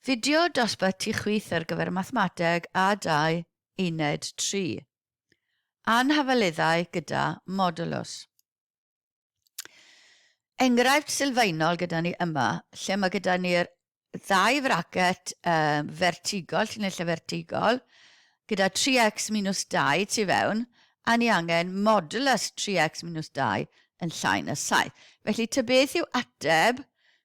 Fideo dosbarth Ti Chwith ar gyfer Mathemateg A2 Uned 3. Anhafaleddau gyda modulus. Enghraifft sylfaenol gyda ni yma, lle mae gyda ni'r ddau fracet um, fertigol, llinellau fertigol, gyda 3x minus 2 tu fewn, a ni angen modulus 3x minus 2 yn llai na 7. Felly, ta beth yw ateb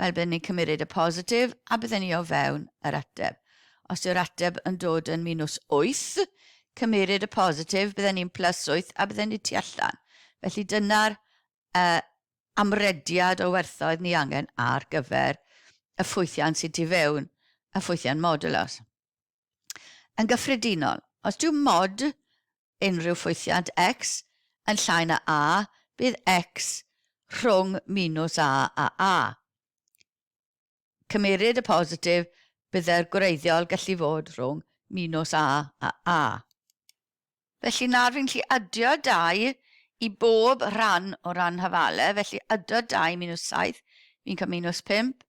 Wel, bydden ni'n cymryd y positif a bydden ni o fewn yr ateb. Os yw'r ateb yn dod yn minws 8, cymryd y positif, bydden ni'n plus 8 a bydden ni tu allan. Felly dyna'r uh, amrediad o werthoedd ni angen ar gyfer y ffwythiant sydd tu fewn y ffwythiant modulos. Yn gyffredinol, os dyw mod unrhyw ffwythiant x yn llai na a, bydd x rhwng minws a a a. Cymeryd y positif, byddai'r gwreiddiol gallu fod rhwng minws a a a. Felly nawr fi'n gallu adio dau i bob rhan o ran hafale, felly adio dau minws saith, fi'n cael minws pump,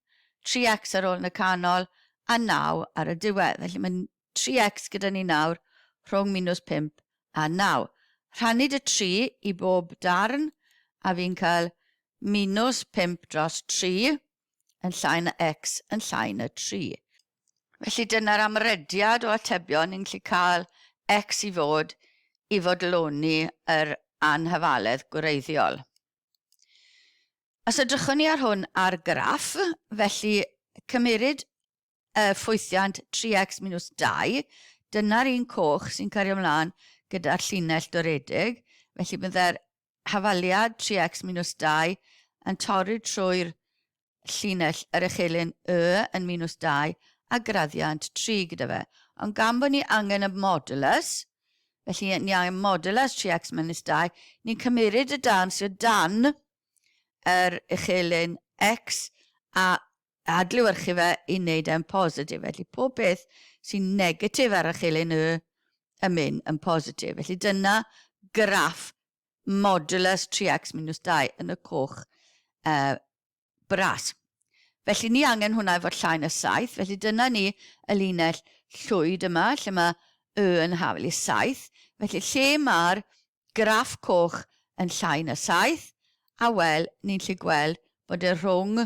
tri x ar ôl yn y canol, a naw ar y diwedd. Felly mae tri x gyda ni nawr rhwng minws pump a naw. Rhannu dy tri i bob darn, a fi'n cael minws pump dros tri, yn llai na x yn llai na 3. Felly dyna'r amrediad o atebion ni'n gallu cael x i fod i fodloni yr anhafaledd gwreiddiol. Os edrychwn ni ar hwn ar graff, felly cymeryd y ffwythiant 3X minws 2, dyna'r un coch sy'n cario mlaen gyda'r llinell doredig, felly byddai'r hafaliad 3X minws 2 yn torri trwy'r llinell yr echelin Y yn minws 2 a graddiant 3 gyda fe. Ond gan bod ni angen y modulus, felly ni angen modulus 3X minws 2, ni'n cymeryd y darn sydd o dan yr echelin X a adlewyrchu fe i wneud e'n positif. Felly, pob peth sy'n negatif ar y chilyn Y yn mynd yn positif. Felly, dyna graff modulus 3x minus 2 yn y coch uh, bras. Felly, ni angen hwnna i fod llai na 7. Felly, dyna ni y linell llwyd yma, lle mae Y yn hafel i 7. Felly, lle mae'r graff coch yn llai na 7, a wel, ni'n lle gweld bod e rhwng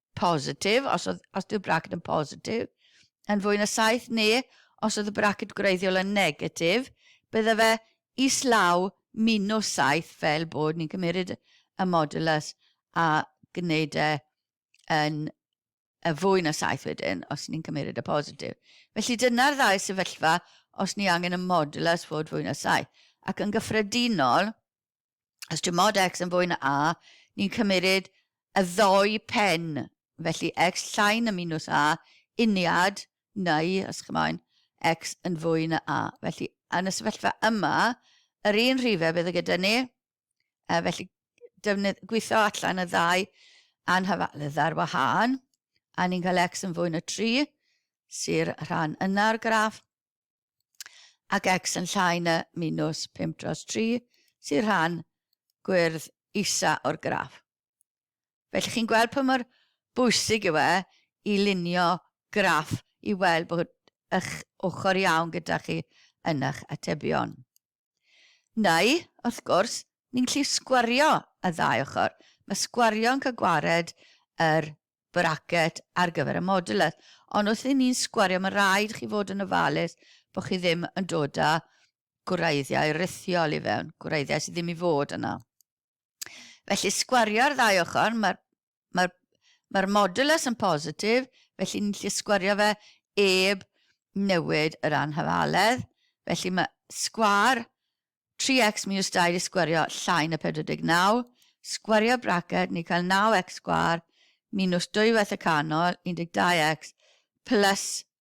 positif, os, oedd, os yw'r braced yn positif, yn fwy na 7 neu os oedd y braced gwreiddiol yn negatif, bydde fe islaw minus 7 fel bod ni'n cymryd y modulus a gwneud e yn y fwy na 7 wedyn os ni'n cymryd y positif. Felly dyna'r ddau sefyllfa os ni angen y modulus fod fwy na 7. Ac yn gyffredinol, Os yw mod x yn fwy na a, ni'n cymeryd y ddou pen, felly x llai na minws a, uniad, neu, os chi moyn, x yn fwy na a. Felly, yn y sefyllfa yma, yr un rhifau bydd y gyda ni, a felly defnydd, gweithio allan y ddau anhyfalydd ar wahân, a ni'n cael x yn fwy na 3, sy'r rhan yna'r graff, ac X yn llai na minws 5 dros 3, sy'n rhan gwyrdd isa o'r graff. Felly chi'n gweld pa mor bwysig yw e i lunio graff i weld bod eich ochr iawn gyda chi yn eich atebion. Neu, wrth gwrs, ni'n gallu sgwario y ddau ochr. Mae sgwario yn cael gwared yr bracket ar gyfer y modulus. Ond wrth i ni'n sgwario, mae'n rhaid i chi fod yn ofalus bod chi ddim yn dod â gwreiddiau rithiol i fewn, gwreiddiau sydd ddim i fod yna. Felly, sgwario'r ddau ochr, mae'r mae'r mae'r modulus yn positif, felly ni'n gallu sgwario fe eb newid yr anhafaledd. Felly mae sgwar 3x minus 2 wedi sgwario llai na 49. Sgwario braced, ni'n cael 9x sgwar minus dwywaith y canol, 12x, plus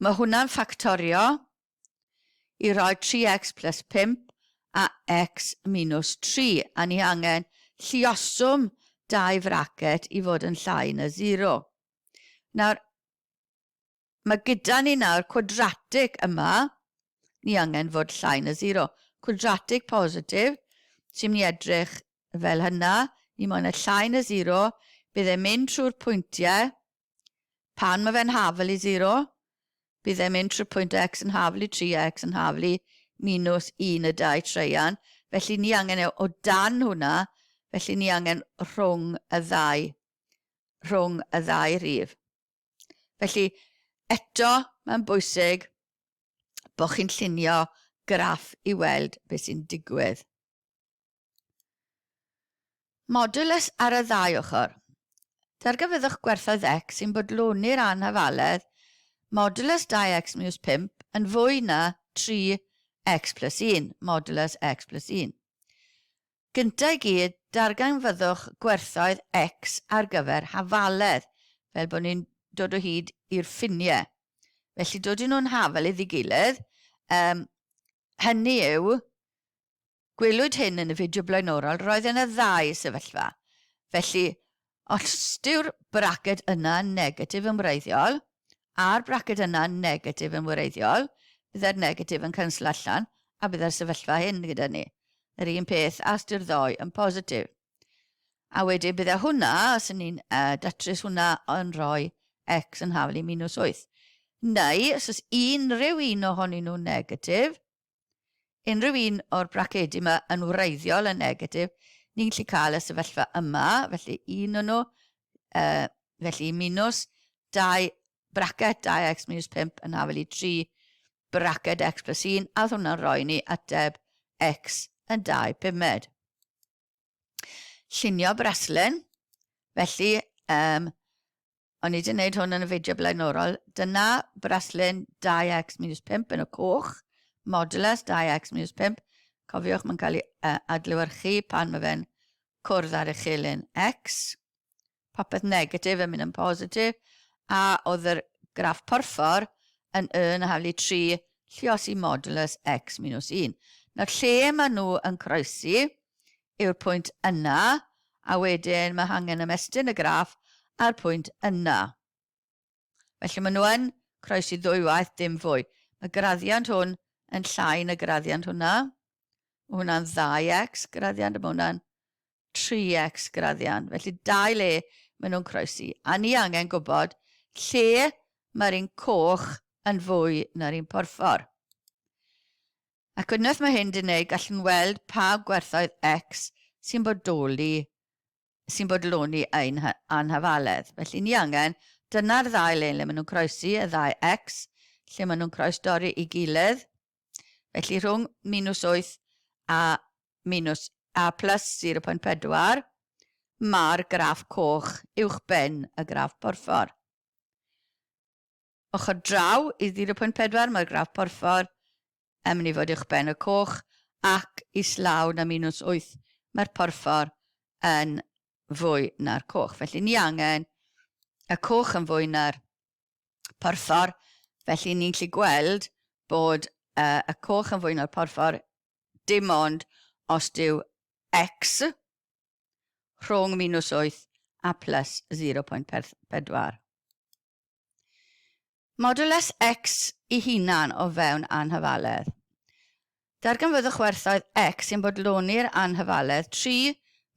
Mae hwnna'n ffactorio i roi 3x plus 5 a x minus 3, a ni angen llioswm dau fracet i fod yn llai na 0. Nawr, mae gyda ni nawr cwadratig yma, ni angen fod llai na 0. Cwadratig positif, sy'n mynd i edrych fel hynna, ni moyn y llai na 0, bydd e'n mynd trwy'r pwyntiau Pan mae fe'n hafl i 0, bydd e'n mynd trwy pwynt x yn hafl i 3x yn hafl i minws 1 y dau traean, felly ni angen e o dan hwnna, felly ni angen rhwng y ddau, rhwng y ddau rif. Felly, eto, mae'n bwysig bod chi'n llunio graff i weld beth sy'n digwydd. Modulus ar y ddau ochr. Darganfyddwch gwerthoedd x sy'n bodloni'r anhafaledd modulus 2x miws 5 yn fwy na 3x plus 1 modulus x plus 1. Gyntaf i gyd, darganfyddwch gwerthoedd x ar gyfer hafaledd, fel bod ni'n dod o hyd i'r ffiniau. Felly, dod i nhw'n hafal iddi gilydd, um, hynny yw, Gwelwyd hyn yn y fideo blaenorol, roedd yna ddau sefyllfa. Felly, os yw'r braced yna'n negatif yn wreiddiol, a'r braced yna'n negatif yn wreiddiol, byddai'r negatif yn canslo allan, a byddai'r sefyllfa hyn gyda ni. Yr un peth as yw'r ddou yn positif. A wedyn byddai hwnna, os yn ni'n uh, datrys hwnna, yn rhoi x yn hafel i minus 8. Neu, os ys unrhyw un ohonyn nhw'n negatif, Unrhyw un o'r bracedi yma yn wreiddiol yn negatif, ni'n gallu cael y sefyllfa yma, felly un o'n nhw, uh, felly minus 2 bracet 2x minus 5 yn hafel i 3 bracet x plus 1, a oedd hwnna'n rhoi ni ateb x yn 2 pumed. llunio braslun, felly um, o'n i wedi gwneud hwn yn y fideo blaenorol, dyna braslun 2x minus 5 yn y coch, modulus 2x minus 5, cofiwch mae'n cael ei uh, adlywyrchu pan mae fe'n cwrdd ar y chelyn x, popeth negatif yn mynd yn positif, a oedd yr graff porffor yn y na haflu 3 lliosi modulus x minus 1. Nawr lle maen nhw yn croesi yw'r pwynt yna, a wedyn mae hangen ymestyn y graff a'r pwynt yna. Felly maen nhw yn croesi ddwywaith, dim fwy. Mae graddiant hwn yn llai na graddiant hwnna. Mae hwnna'n ddau x graddiant a mae hwnna'n 3x graddiant. Felly dau le maen nhw'n croesi. A ni angen gwybod lle mae'r un coch yn fwy na'r un porffor. Ac unwaith mae hyn di wneud, gallwn weld pa gwerthoedd x sy'n bodoli sy'n bodloni ein anhafaledd. Felly, ni angen, dyna'r ddau le le maen nhw'n croesi, y ddau X, lle maen nhw'n croesdori i gilydd. Felly, rhwng minus 8 a minus a plus 0.4, mae'r graff coch uwchben y graff porffor. Ochr draw i 0.4 mae'r graff porffor, yn mynd i fod uwchben y coch, ac islaw na minws 8 mae'r porffor yn fwy na'r coch. Felly ni angen y coch yn fwy na'r porffor, felly ni'n gallu gweld bod uh, y coch yn fwy na'r porffor dim ond os dyw x rhwng minws 8 a plus 0.4. Modulus X i hunan o fewn anhyfaledd. Darganfyddwch werthoedd X sy'n bodloni'r anhyfaledd tri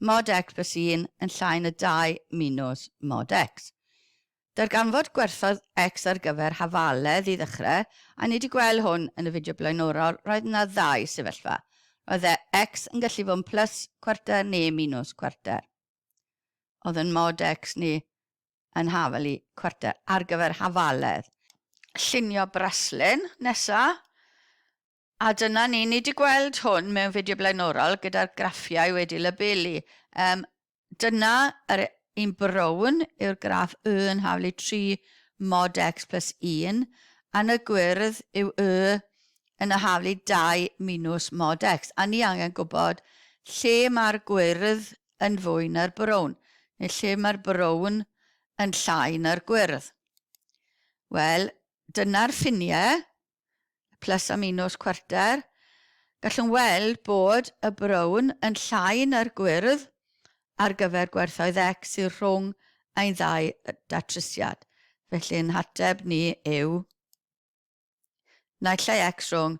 mod X plus 1 yn llai na 2 minus mod X. Darganfod gwerthoedd X ar gyfer hafaledd i ddechrau, a ni wedi gweld hwn yn y fideo blaenorol, roedd yna ddau sefyllfa. Roedd e, X, yn gallu fod yn plus cwarter neu minus cwarter. Oedd yn mod X ni yn haf fel i chwarter ar gyfer hafaledd. Llunio braslun nesa. A dyna ni, ni wedi gweld hwn mewn fideo blaenorol gyda'r graffiau wedi labelu. Um, dyna yr un brown yw'r graff y yn haflu 3 mod x plus 1 a'n y gwyrdd yw y yn y haflu 2 minus mod x a ni angen gwybod lle mae'r gwyrdd yn fwy na'r brown, neu lle mae'r brown yn llai na'r gwyrdd. Wel, dyna'r ffiniau, plus a minus cwarter. Gallwn weld bod y brown yn llai na'r gwyrdd ar gyfer gwerthoedd x sydd rhwng ein ddau datrysiad. Felly ein hateb ni yw naill ai x rhwng